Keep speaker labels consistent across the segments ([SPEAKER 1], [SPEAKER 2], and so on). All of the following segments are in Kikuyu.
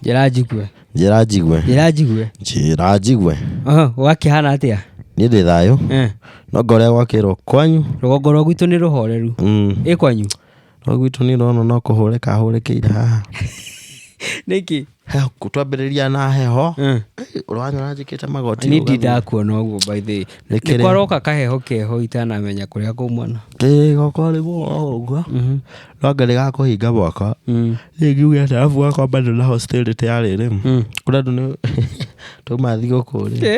[SPEAKER 1] njĩra njigue njĩra njigue njĩra njigue njĩra njigue Aha, gwakĩhana atĩa
[SPEAKER 2] niĩ ndĩ thayũ
[SPEAKER 1] Eh, no ngorĩa gwakĩrwo kwanyu rũgongo rwa gwitũ nĩ
[SPEAKER 2] rũhoreru Mm. ĩ kwanyu No gwitũ
[SPEAKER 1] nĩ ũrona no kũhũrĩka ahũrĩkĩire haha.
[SPEAKER 2] nĩkĩ Heho, twambĩrĩria
[SPEAKER 1] na heho, Mm. ũranyona njĩkĩte magoti. nĩ rũgathĩ. ndakuona
[SPEAKER 2] ũguo by the way. Nĩ kĩrĩa- nĩkwaroka kaheho keho itanamenya kũrĩa kumana Ĩĩ, goko rĩu
[SPEAKER 1] o ũguo. No ngarĩ ga kũhinga moko. Niĩ ngiuge atĩ arabu gakwa bado na hostility ya rĩrĩ. Kũrĩa andũ nĩ tuma thigũkũ rĩ.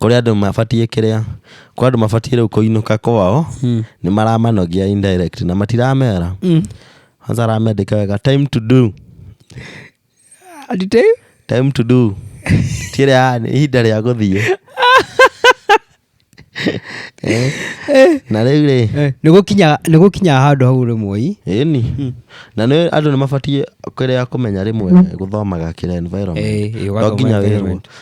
[SPEAKER 1] Kũrĩ andũ mabatiĩ kĩrĩa, kũrĩ andũ mabatiĩ rĩu kũinũka kwao, nĩ maramanogia indirect na matiramera. Kwanza aramendĩka wega time to do, Ati time? time to do. Ti ĩrĩa ya nĩ ihinda rĩa gũthiĩ. Eh, Na rĩu rĩ, Eh, nĩ gũkinya- nĩ gũkinyaga
[SPEAKER 2] handũ hau rĩmwe ĩni.
[SPEAKER 1] Na nĩ andũ nĩ mabatiĩ kĩrĩa kũmenya rĩmwe gũthomaga kĩrĩa environment. Eh, eh, To ũgathoma nginya wĩrwo. environment.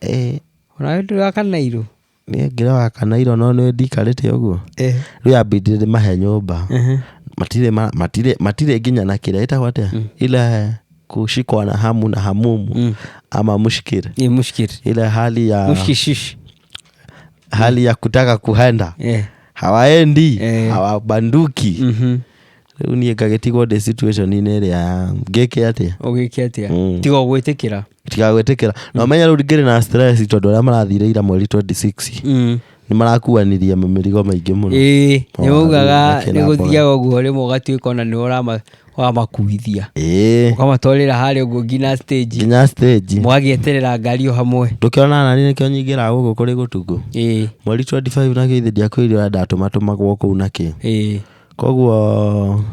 [SPEAKER 2] Eh. Onawe ndũrĩ wa kanairũ? Niĩ ngĩrĩ wa
[SPEAKER 1] kanairũ no nĩ ndikarĩte ũguo. Eh. Rĩu yambindire ndĩmahe nyũmba. Ehe. Matirĩ ma- matirĩ matirĩ nginya na kĩrĩa ĩtagwo atĩa? Ile kushikwa na hamu na hamumu Mm. ama mushkiri. Ni mushkiri. Ile hali ya Mushkishish. hali ya kutaka kuhenda. Eh. Hawaendi, Eh. hawabanduki. Mhm. Rĩu niĩ ngagĩtigwo ndĩ situation-inĩ ĩrĩa ngĩke atĩa? Ũgĩke atĩa? Mm. Tiga ũgwĩtĩkĩra.
[SPEAKER 2] itigagwĩtĩkĩra na ũmenye rĩu
[SPEAKER 1] ngĩrĩ na stress tondũ arĩa marathire ira mweri 26 Mm. nĩ marakuanirie mĩrigo maingĩ mũno ĩĩ Mawaru, nĩ waugaga
[SPEAKER 2] makĩra nĩ mboga. gũthiaga ũguo rĩmwe ũgatuĩka ona nĩ ũrama- ũramakuithia ĩĩ ũkamatwarĩra harĩa ũguo nginya stage nginya stage mũgagĩeterera ngari o hamwe ndũkĩona nani nĩkĩo
[SPEAKER 1] nyingĩra gũkũ kũrĩ gũtugũ ĩĩ mweri 25 nakĩo ithe ndiakwĩrire ndatũmatũmagwo kũu nakĩ ĩĩ Koguo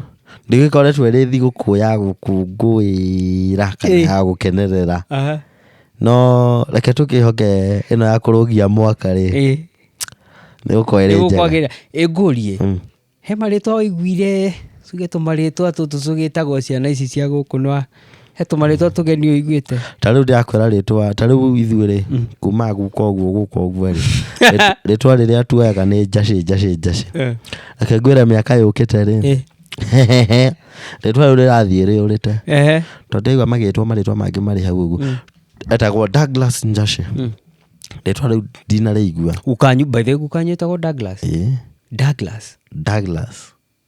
[SPEAKER 1] ndĩgĩkoretwo ĩrĩ thigũkũ ya gũkũngũĩra kana Ĩĩ. ya gũkenerera Aha. no reke tũkĩhoke ĩno ya kũrũgia mwaka rĩ Ĩĩ. nĩ gũkorwo ĩrĩ njega Nĩgũkwagĩrĩra. Ĩ ngũrie Mm.
[SPEAKER 2] he marĩtwa ũiguire tuge tũmarĩtwa tũtũ tũgĩtagwo ciana ici cia gũkũ nwa he tũmarĩtwa tũgeni ũiguĩte ta rĩu ndĩrakwĩra
[SPEAKER 1] rĩtwa ta rĩu ithuĩ rĩ Mm. kumaga guka ũguo guka ũguo rĩ rĩt- rĩtwa rĩrĩa tuoyaga nĩ njacĩ njacĩ njacĩ reke ngwĩre mĩaka yũkĩte rĩ Eh, rĩtwa rĩu rĩrathiĩ rĩũrĩte ehe. tondũ ndaigua magĩtwo marĩtwa mangĩ marĩ hau ũguo Mm. etagwo douglas njacĩ Mm. rĩtwa rĩu ndinarĩigua gukanyu by the way gukanyu
[SPEAKER 2] ĩtagwo douglas Ĩ, douglas douglas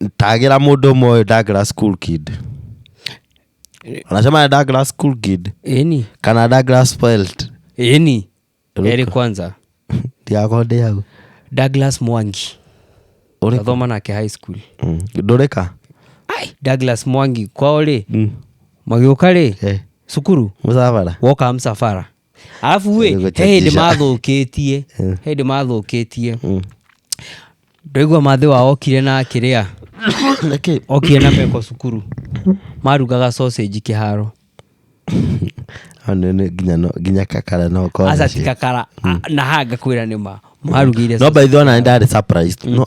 [SPEAKER 1] Ndagĩra mũndũ ũmwe ũyũ ndagĩra school kid. Unasema ndagĩra school kid ĩni kana ndagĩra spelt. ĩni
[SPEAKER 2] Ruka. erĩ kwanza Ndiako ndĩ
[SPEAKER 1] hau. douglas mwangi
[SPEAKER 2] Ũrĩ kũ? athoma nake high school Mm. Ndũrĩka?
[SPEAKER 1] Ai,
[SPEAKER 2] douglas mwangi kwao rĩ Mm. magĩũka rĩ Eh. cukuru Mũcabara. woka
[SPEAKER 1] msafara
[SPEAKER 2] arabu ĩ he hĩndĩ Gũgũchatisha. mathũkĩtie Mm. he hĩndĩ mathũkĩtie Mm. ndaigua mathĩ wao okire na kĩrĩa Nĩkĩ? okire na meko cukuru marugaga sausage kĩharo Hau nĩ- nĩ
[SPEAKER 1] nginya no- nginya kakara no ũkorwo aca nacio. tikakara
[SPEAKER 2] na hanga kwĩra nĩ ma marugĩire no by the way ona nĩ ndarĩ
[SPEAKER 1] surprised no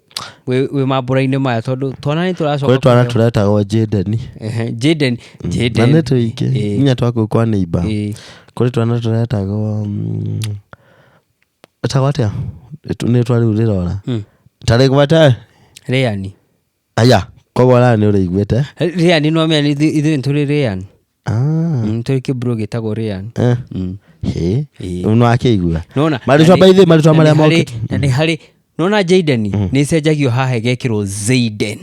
[SPEAKER 2] wĩ wĩ mambũra-inĩ maya tondũ twana nĩ tũracoka kwĩ twana kũheo- tũretagwo
[SPEAKER 1] jadeni Ehe, Jaden na Jaden nĩ tũingĩ Ĩĩ. nginya twakũ kwa neiba Ĩĩ. kũrĩ twana tũretagwo mm, etagwo atĩa Nĩtũ- nĩ twa rĩu rĩrora Mm. tarĩ gwete Rĩani
[SPEAKER 2] aya
[SPEAKER 1] koguo raya nĩ ũrĩiguĩte Rĩani nĩwamenya
[SPEAKER 2] ithuĩ ithuĩ nĩ tũrĩ Rĩani Ah, Mm, tũrĩ kä bro gä tagwo ryan eh, Mm. hĩ.
[SPEAKER 1] Ĩĩ. Rĩu nĩwakĩigua Nona, marĩtwa na nĩ- by the way,
[SPEAKER 2] marĩtwa na nĩ marĩa harĩ- mokĩte
[SPEAKER 1] na nĩ harĩ
[SPEAKER 2] nona jaden nä cenjagio haha gegäkä rwo zaiden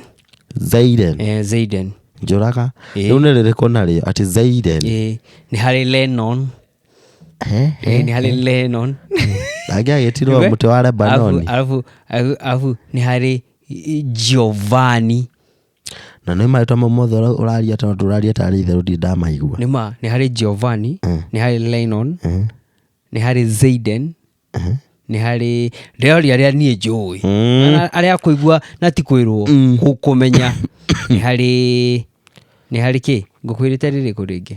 [SPEAKER 2] zaiden Eh, zaiden njũraga
[SPEAKER 1] Ĩĩ. rĩu nĩ rĩrĩkũ narĩo atĩ zaiden Eh, nä harä
[SPEAKER 2] lenon Eh, Eh, nä harä lenon angĩ agĩtirwo
[SPEAKER 1] Nĩwe? mũtĩ wa lebanoni Alafu- alafu- alafu
[SPEAKER 2] nä harä giovani
[SPEAKER 1] na nĩ marĩtwa mau mothe ũra- ũraria tondũ ndũraria tarĩ itherũ ndirĩ ndamaigua nĩ ma nĩ harĩ
[SPEAKER 2] giovanni Mm. nĩ harĩ lenon Mhm. nĩ harĩ zaiden nĩ harĩ ndĩroria arĩa niĩ njũĩ Mm. Na arĩa kũigua na ti kwĩrwo Mm. kũmenya nĩ harĩ nĩ harĩ kĩ ngũkwĩrĩte rĩrĩkũ rĩngĩ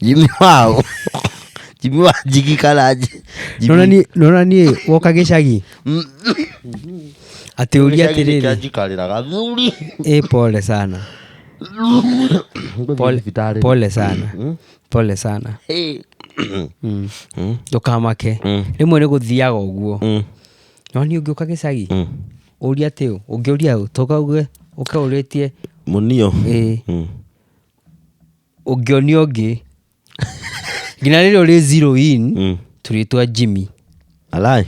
[SPEAKER 1] jimi wao jimi wa jigi karaji Nona ni- nona
[SPEAKER 2] niä woka gä cagi atä å ria atä rä rä jikarira gathuri ä pole sana Pole- Thibitarĩ. pole sana pole sana Hey. Mm. Mm. ndũkamake Mm. rĩmwe nĩ gũthiaga ũguo Mm. no nĩ ũngĩũka gĩcagi Mm. ũria atĩ ũ ũngĩũria ũ tokauge ũkaũrĩtie munio
[SPEAKER 1] ĩĩ Mm.
[SPEAKER 2] ũngĩonio ũngĩ nginya rĩrĩa ũrĩ zero in Mm. tũrĩtwa jimmy alai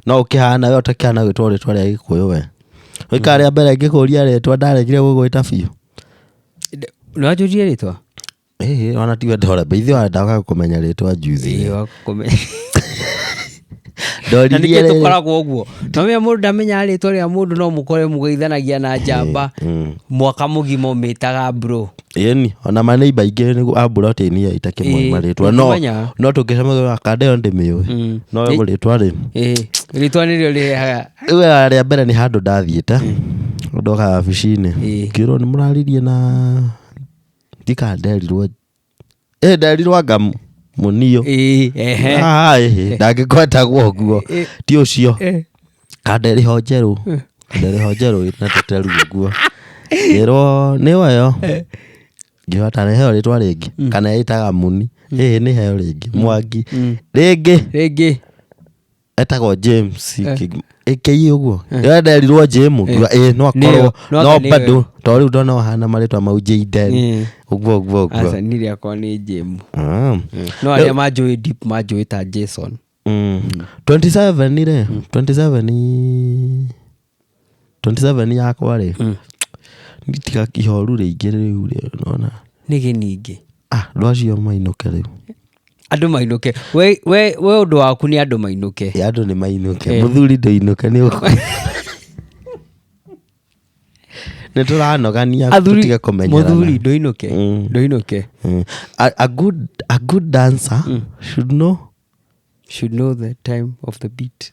[SPEAKER 1] no ũkĩhana we ũtakĩhana gwĩtwo rĩtwa rĩa gĩkũyũ we ũikara rĩa mbere ngĩkũria rĩtwa ndaregire gũgwĩta biũ nĩwanjũrie
[SPEAKER 2] rĩtwa Ĩĩ, ona tiwe
[SPEAKER 1] ndore mbeithio wandaga kũmenya rĩtwa njuthi Ĩĩ, wakũme- na
[SPEAKER 2] ndoririe nĩkĩo rĩrĩ tũkoragwo ũguo nomenya mũndũ ndamenya rĩtwa rĩa mũndũ no mũkore mũgeithanagia na njamba mwaka mũgima ũmĩtaga bro ĩni ona maneiba
[SPEAKER 1] aingĩ nĩguo a mburoti-inĩ ya itakĩ Ĩĩ, moĩ marĩtwa no ndũkĩmenyaga. no tũngĩcemagĩra kanda ĩyo ndĩmĩũĩ Mm. no Ĩ- rĩtwa rĩ ĩĩ rĩtwa
[SPEAKER 2] nĩrĩo rĩrehaga rĩu rĩa mbere nĩ
[SPEAKER 1] handũ ndathiĩte ndoka wabici-inĩ Ĩĩ. ngĩrwo nĩ mũraririe na ndikanderirwo ĩ nderi rwanga mu- mũniũ Ĩĩ, ehe. Ah, ĩhĩ, ndangĩgwetagwo ũguo Ĩ- ti ũcio Ĩ. kanderi ho njerũ kanderi ho njerũ na tũteru ũguo ngĩrwo nĩ wayo ngĩrwo ta nĩheo rĩtwa rĩngĩ kana ĩtaga muni ĩhĩ nĩheo rĩngĩ mwangi rĩngĩ Rĩngĩ. etagwo james Eh. Kig- ĩkĩi ũguo ĩyo nderirwo jim ngiuga ĩ no akorwo Nĩyo, no no anga nĩyo. bado to rĩu ndona ũhana marĩtwa mau jden Eh. ũguo ũguo ũguo aca niä rä akwa nä
[SPEAKER 2] njämu Ah. no arä a manjå deep manjå ta jason Mm. 27
[SPEAKER 1] rä 27 27 yakwa rĩ Mm. tiga ihoru rĩingĩ rĩu rĩ nona nĩ gĩningĩ
[SPEAKER 2] ah andũ acio
[SPEAKER 1] mainũke rĩu andũ
[SPEAKER 2] mainũke we, we, we ũndũ waku nĩ andũ mainũke Ĩ, andũ nĩ mainũke
[SPEAKER 1] Eh. mũthuri ndũinũke nĩ ũkũ nĩ tũranogania Athuri- tũtige kũmenyerana mũthuri ndũinũke Mm.
[SPEAKER 2] ndũinũke Mm. a,
[SPEAKER 1] a, good, a good dancer should know should know the time of the beat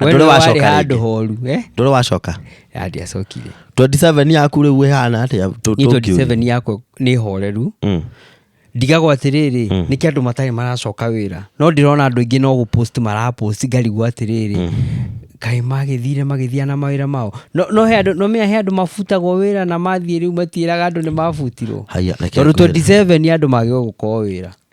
[SPEAKER 2] We ndũrĩ nĩwe warĩ wacoka
[SPEAKER 1] handũ rĩngĩ. horu eh? ndũrĩ
[SPEAKER 2] wacoka Ya, ndiacokire 27 yaku
[SPEAKER 1] rĩu ĩhana atĩa tũ- Niĩ tũkiuria? 27 yakwa
[SPEAKER 2] nĩ horeru Mm. ndigagwo atĩrĩrĩ mm. nĩkĩ andũ matarĩ maracoka wĩra no ndĩrona andũ aingĩ no gũpost marapost ngarigwo atĩrĩrĩ mm. kaĩ magĩthire magĩthia na mawĩra mao no, no, he andũ- no mea he andũ mabutagwo wĩra na mathiĩ rĩu matiĩraga andũ nĩ mabutirwo Haya, reke tondũ ngwĩre. 27 andũ magĩrĩirwo gũkorwo wĩra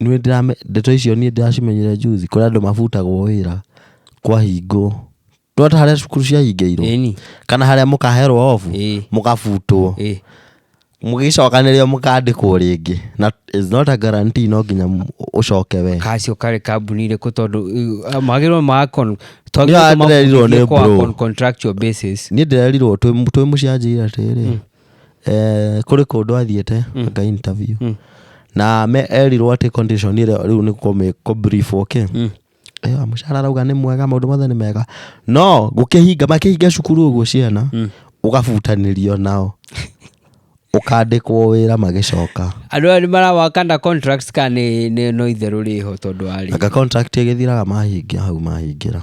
[SPEAKER 1] Ndeto icio niĩ ndĩracimenyire juzi kũrĩ andũ mabutagwo wĩra kwa hingo nĩ wona ta harĩa cukuru ciahingĩirwo Ĩni. kana harĩa mũkaherwo obu Ĩĩ. mũgabutwo Ĩĩ. mũgĩcokanĩrĩrio mũkandĩkwo rĩngĩ na it's not a guarantee no nginya m- ũcoke we kacio karĩ kambuni
[SPEAKER 2] irĩkũ tondũ uh, magĩrĩirwo ma con- to Nĩ wona ndĩrerirwo nĩ twagĩrĩirwo bro. kwa contractual basis niĩ ndĩrerirwo twĩ
[SPEAKER 1] twĩ mũcianjĩire atĩrĩ eh, kũrĩ kũndũ athiĩte Mm. aka interview Mm. na me erirwo atĩ condition ĩrĩa rĩu nĩ kũmĩ- kũbriefwo kĩ Mm. Eh, mũcara arauga nĩ mwega maũndũ mothe nĩ mega no gũkĩhinga makĩhinga cukuru ũguo ciana Mm. ũgabutanĩrio nao ũkandĩkwo wĩra magĩcoka andå aya nä
[SPEAKER 2] marawakanda contracts ka nä no itherå rä ho tondå wa rä aka contract ĩgĩthiraga
[SPEAKER 1] mahingia hau mahingĩra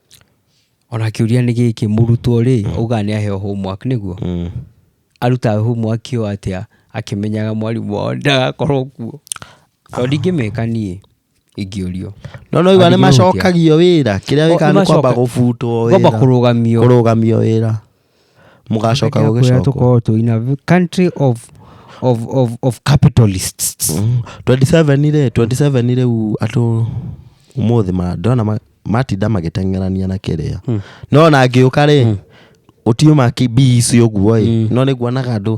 [SPEAKER 2] Ona kĩũria nĩ gĩkĩ, mũrutwo rĩ, augaga nĩ aheo homework nĩguo? Arutaga homework ĩyo atĩa akĩmenyaga mwarimũ wao ndagakorwo kuo? Tondũ ndingĩmĩka niĩ ingĩũrio. No nĩ waigua nĩ
[SPEAKER 1] macokagio wĩra, kĩrĩa wĩkaga nĩ kwamba gũbutwo wĩra. Kwamba kũrũgamio. Kũrũgamio wĩra. mũgacoka Kũrĩa gũgĩcokwo tũkoragwo twĩ in a v-
[SPEAKER 2] country of of of of capitalists Mm.
[SPEAKER 1] 27 rĩ 27 rĩu andũ umuthi ma ndona ma- matinda magĩteng'erania na kĩrĩa Mm. no na ngĩũka rĩ ũtiuma bii icio ũguo ĩ no nĩguonaga andũ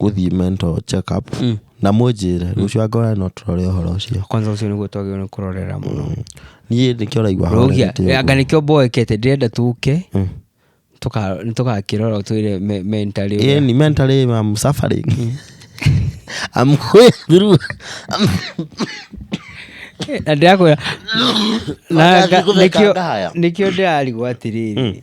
[SPEAKER 1] gũthiĩ mental check up na mũnjĩre rũciũ angora no tũrore ũhoro ũcio kwanza ucio niguo twagĩrĩirwo nĩ
[SPEAKER 2] kũrorera mũno niĩ nĩkĩo raigua
[SPEAKER 1] rogia
[SPEAKER 2] horerete ũguo. anga nĩkĩo
[SPEAKER 1] mboekete
[SPEAKER 2] ndĩrenda tũke
[SPEAKER 1] Mm.
[SPEAKER 2] tũka- nĩtũgakĩrora twĩre me- mentally ũrĩa- Yeah, ni mentally I'm
[SPEAKER 1] suffering. I'm going through.
[SPEAKER 2] na ndĩrakwĩra na Wakati nga- kũmeka nĩkĩo- ndaya. nĩkĩo ndĩrarigwo atĩrĩrĩ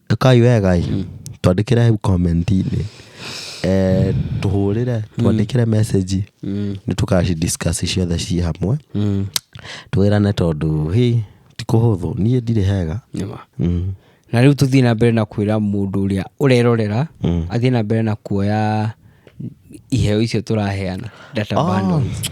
[SPEAKER 1] ĩkai wega ĩ twandĩkĩre hau comment-inĩ eh, tũhũrĩre twandĩkĩre message Mm. nĩ tũkacidiscuss ciothe ciĩ hamwe Mm. twĩrane tondũ hĩ ti kũhũthũ niĩ ndirĩ hega Nĩma. mm.
[SPEAKER 2] na rĩu tũthiĩ na mbere na kwĩra mũndũ ũrĩa ũrerorera Mm. athiĩ na mbere na kuoya iheo icio tũraheana data Ah. bundles.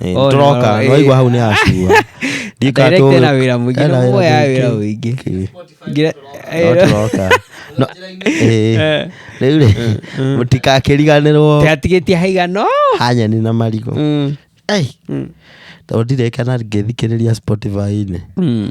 [SPEAKER 1] Eh, Oh, tũroka no, eh. nĩwaigua hau nĩ hacua Director
[SPEAKER 2] ena wĩra mũingĩ, no mũoya wĩra mũingĩ. Ngira- eh, tũroka
[SPEAKER 1] No, eh, rĩu rĩ mũtikakĩriganĩrwo Tĩgatigĩtie
[SPEAKER 2] haigano. hanyeni na marigũ
[SPEAKER 1] Mm, Ei, mm, tondũ ndireka na ngĩthikĩrĩria spotify-inĩ mm.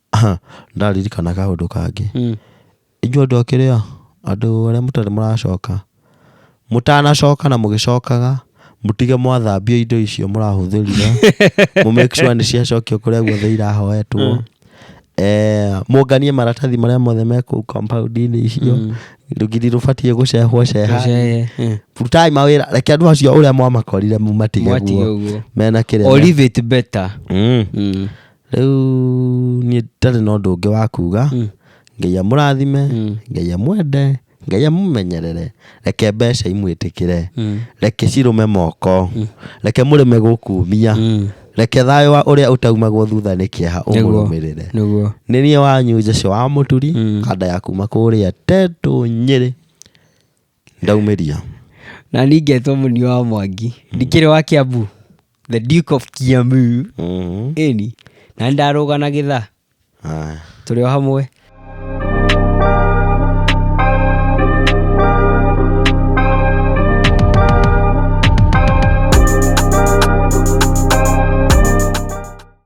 [SPEAKER 1] ndaririkana kaũndũ kangĩ Mm. inyuĩ andũ akĩrĩa andũ arĩa mũtarĩ mũracoka mũtanacoka na mũgĩcokaga mũtige mwathambia indo icio mũrahũthĩrire mũ make sure nĩ ciacokio kũrĩa guothe irahoetwo Eh, mũnganie maratathi marĩa mothe me kũu compound-inĩ icio Mm. rũgiri rũbatiĩ gũcehwo ceha Gũceye, eh. rutai mawĩra reke andũ acio ũrĩa mwamakorire mumatige Mwatige guo ũguo. mena kĩrĩa Or me- leave it better.
[SPEAKER 2] Mm. Mm. Rĩu
[SPEAKER 1] niĩ ndarĩ na ũndũ ũngĩ wa kuga ngai amũrathime ngai amwende ngai amũmenyerere reke mbeca imwĩtĩkĩre reke cirũme moko reke mũrĩme gũkumia reke thayũ wa ũrĩa ũtaumagwo thutha nĩ kĩeha ũmũrũmĩrĩre nĩguo nĩ niĩ wanyu Jesu wa mũturi kanda ya kuma kũrĩa tetũ nyĩrĩ Ndaumĩria. Na
[SPEAKER 2] niĩ ngetwo mũni wa mwangi. Ndikĩrĩ wa Kiambu. The Duke of Kiambu. Mhm. Ĩni. Na ndarũga na gĩtha. Haya. Tũrĩ o hamwe.